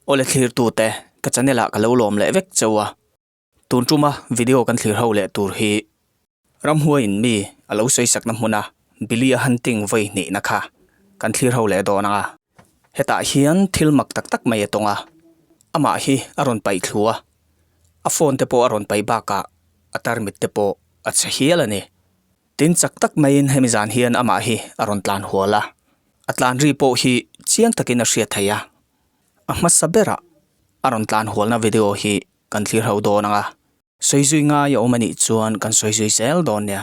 Aw le thlirtute, ka channel ah ka lo lawm leh vek cheu a, tun ṭum a video kan thlir ho leh tur hi ramhuai in mi a lo sawisakna hmuna Billy a hunting vawi hnihna kha kan thlir ho leh dawn ang a, hetah hian thil mak tak tak mai a tawng a, amah hi a rawn paih thlu a, a phone te pawh a rawn pai bakah a tarmit te pawh a chhe hial a ni. Tin, chak tak maiin hemi zan hian amah hi a rawn tlan hual a, a tlan ri pawh hi chiang takin a hria thei a. A hmasa berah a rawn tlan hualna video hi kan thlir ho dawn ang a. Sawi zui ngai a awm a nih chuan kan sawi zui zel dawn nia.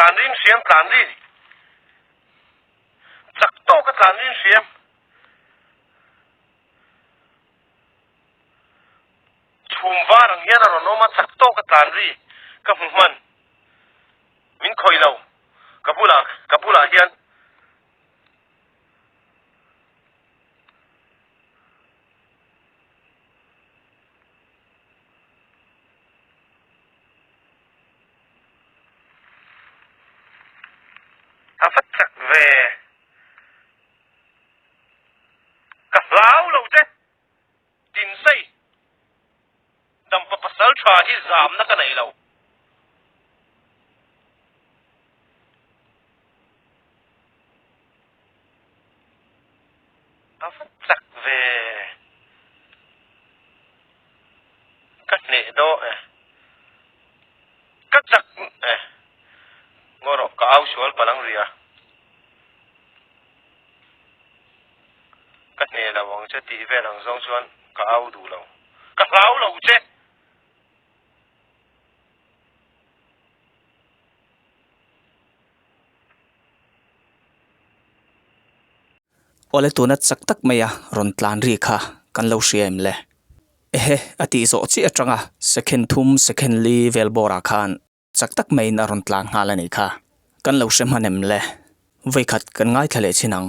tlan rim hriam tlan ri chak to ka tlan rim hriam chhum var ang hian a rawn awm a chak to ka tlan ri ka hmu hman. Min khawih lo. Ka bulah, ka bulah hian a fat chak ve ka hlau lo che. Tin sei, dampa pasal tha hi zamna ka nei lo. A va tlak ve ka hneh dawh e, ka chak e. Ngaw rawh, ka au sual palang ria. ka hne lo ang che tih vel ang zawng chuan ka au duh lo. Ka hlau lo che! Awle tuna chak tak maia rawn tlan ri kha kan lo hria em le? Ehe, a tih zawh chiah atanga second thum, second li vel bawrah khan chak tak maiin a rawn tlan nghal a nih kha kan lo hre hman em le? Vawi khat kan ngaithla leh chin ang.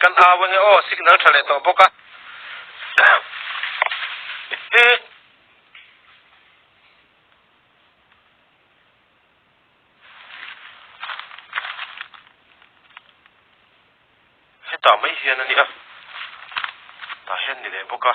Kan hau a ni aw, signal tha leh tawh bawk a. Hetah mai hian a ni a, tah hian ni leh bawk a.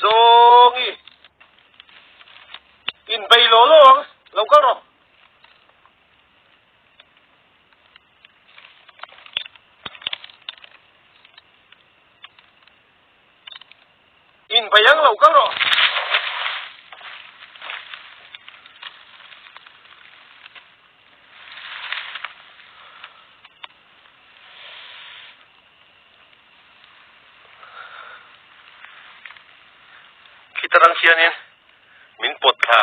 Zongi. In bay lo lo ang. Lo kal ro. In vaih ang lo kal rawh. Khitar ang hianin min pawt thla.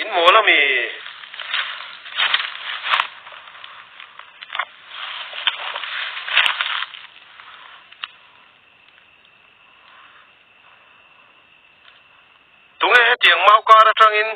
In maw la mi? Tunge hetiang mau kar atangin.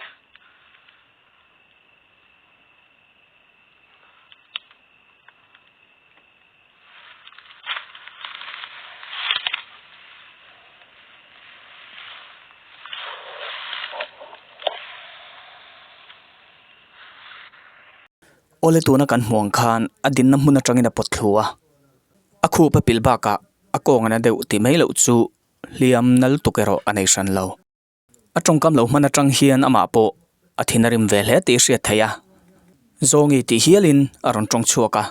Aw le tuna kan hmuh ang khan a dinna hmun atangin a pawt thlu a, a khup a pilh bakah a kawng an la deuh tih mai loh chu hliam nal tuk erawh a nei hran lo. A tawngkam lo hman atang hian amah pawh a thin a rim ve hle tih i hriat theih a, Zawngi tih hialin a rawn tawng chhuak a,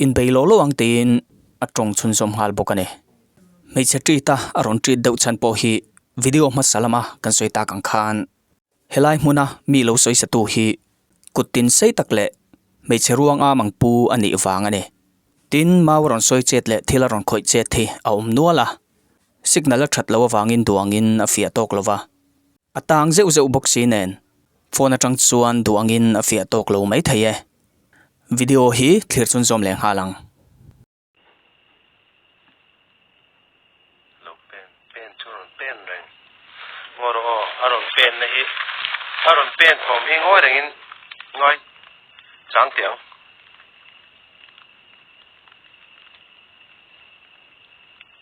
inbei lo lo ang teiin a tawng chhunzawm nghal bawk a ni. Hmeichhe treat a a rawn treat deuh chhan pawh hi video hmasa lama kan sawi tak ang khan, helai hmuna mi lo sawi satu hi kut tin sei tak leh hmeichhe ruang am ang pu a nih vang a ni. Tin, mau a rawn sawi chet leh thil a rawn khawih chet hi a awm nual a, Signal a that loh avangin duangin a fiah tawk lo va, a tang zeuh zeuh bawk si nen phone atang chuan duangin a fiah tawk lo mai thei e. Video hi thlir chun zawm leh nghal ang. Lo pen pen chu rawn pen reng ngawh rawh aw, a rawn penna hi a rawn pen thawm hi ngawi rengin ngawi chang teh ang.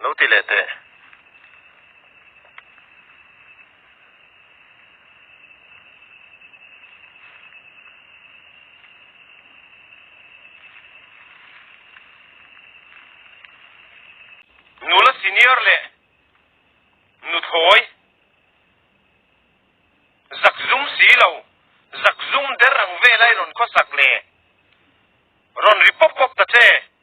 Lo ti leh teh. Nula senior leh nuthawi zak zum si lo, zak zum der ang velai rawn khawsak leh rawn ri pawp pawp ta che.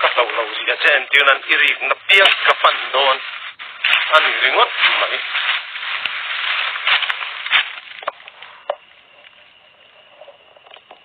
Ka hlauh lo zia che em tir nan i rik na piang ka pan dawn a ni ringawt mai.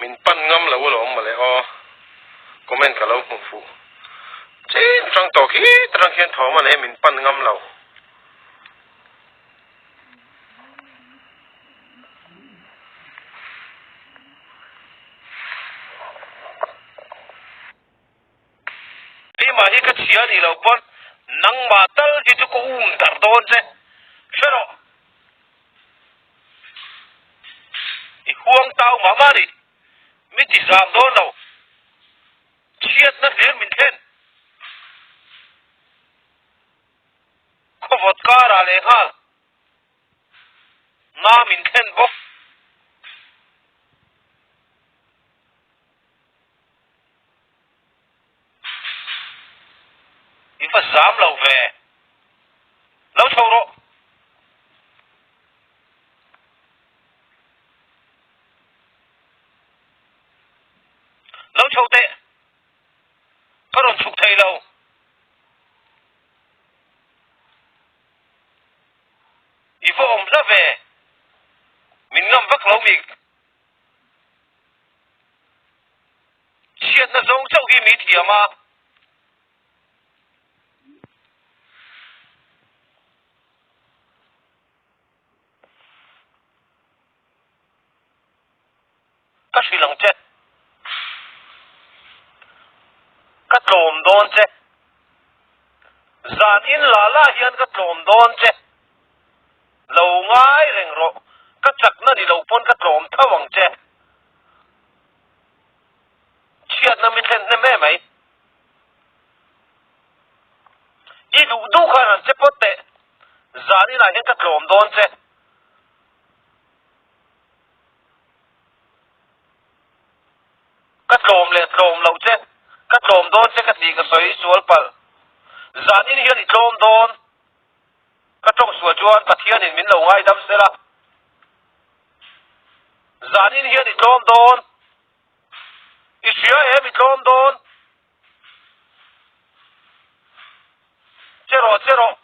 min pan ngam lo a lo awm mawle aw comment ka lo hmuh fuh chin atang tawk hi ta tang khian thawm a nei min pan ngam lo. Keimah hi ka chhia nih lo pawn, nangmah tal hi chu ka um darh dawn che. Hre rawh. I huang tau mah mah nih, mi ti zam dawn lo. Chhiatna hlir min thlen. Khawvawt karah leh nghal nga min thlen bawk. Min va zam lo ve. Lo chho rawh. Lo chho teh. Ka rawn chhuk thei lo. I va awm hla ve. Min ngam vak lo mi. Chhiatna zawng chauh hi mi thiam a. Ka hrilh ang che. Ka tlawm dawn che. Zan in la la hian ka tlawm dawn che. Lo ngai reng rawh. Ka chak na ni lo pawn ka tlawm thauh ang che. Chhiat na mi thlen hnem e mai. I duh duh khan han che pawt teh. Zan in ah hian ka tlawm dawn che. Ka tlawm leh tlawm lo che, ka tlawm dawn che ka tih ka sawi sual palh. Zanin hian i tlawm dawn ka tawng sual chuan Pathianin min lo ngaidam zel a. Zanin hian i tlawm dawn, i hria em i tlawm dawn Che rawh, che rawh.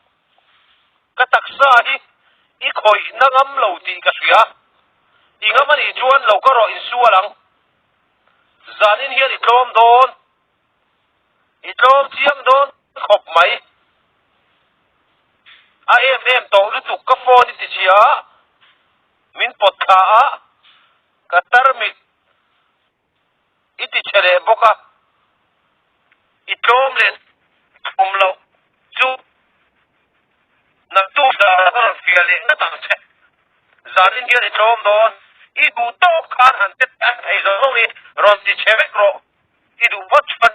Ka taksa hi i khawih na ngam lo tih ka hria. I ngam a nih chuan lo ka rawh insual ang. Zanin hian i tlawm dawn. I tlawm chiang dawn khawp mai. A em em tawh lutuk ka phone i tichhia a. Min pawt thla a, ka tarmit. i ti chhe leh bawk a, i tlawm leh thum loh chu naktu zara ka rawn fiah leh nghat ang che, zanin hian i tlawm dawn, i duh tawk khan han pe teh a thei zawh zawng i rawn ti chhe vek rawh, i duh vawt chuan.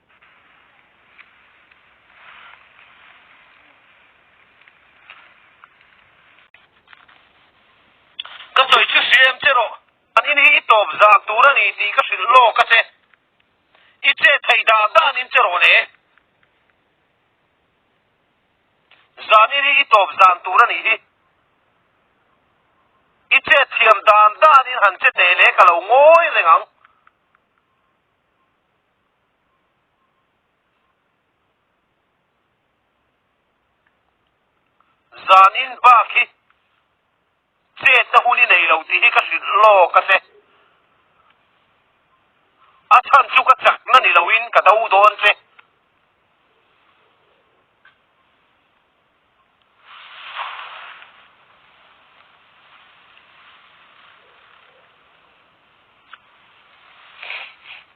Ka sawi chu si em che rawh, panin hi i tawp zak tur a ni tih ka hrilh lawk a che. I che thei dah danin che rawh le. Zanin hi i tawp zan tur a nih hi. I che thiam dan danin han che teh le ka lo ngawi reng ang. Zan in bak hi chet na hun i nei lo tih hi ka hrilh lawk ase. A chhan chu ka chak na ni lo in ka do dawn che.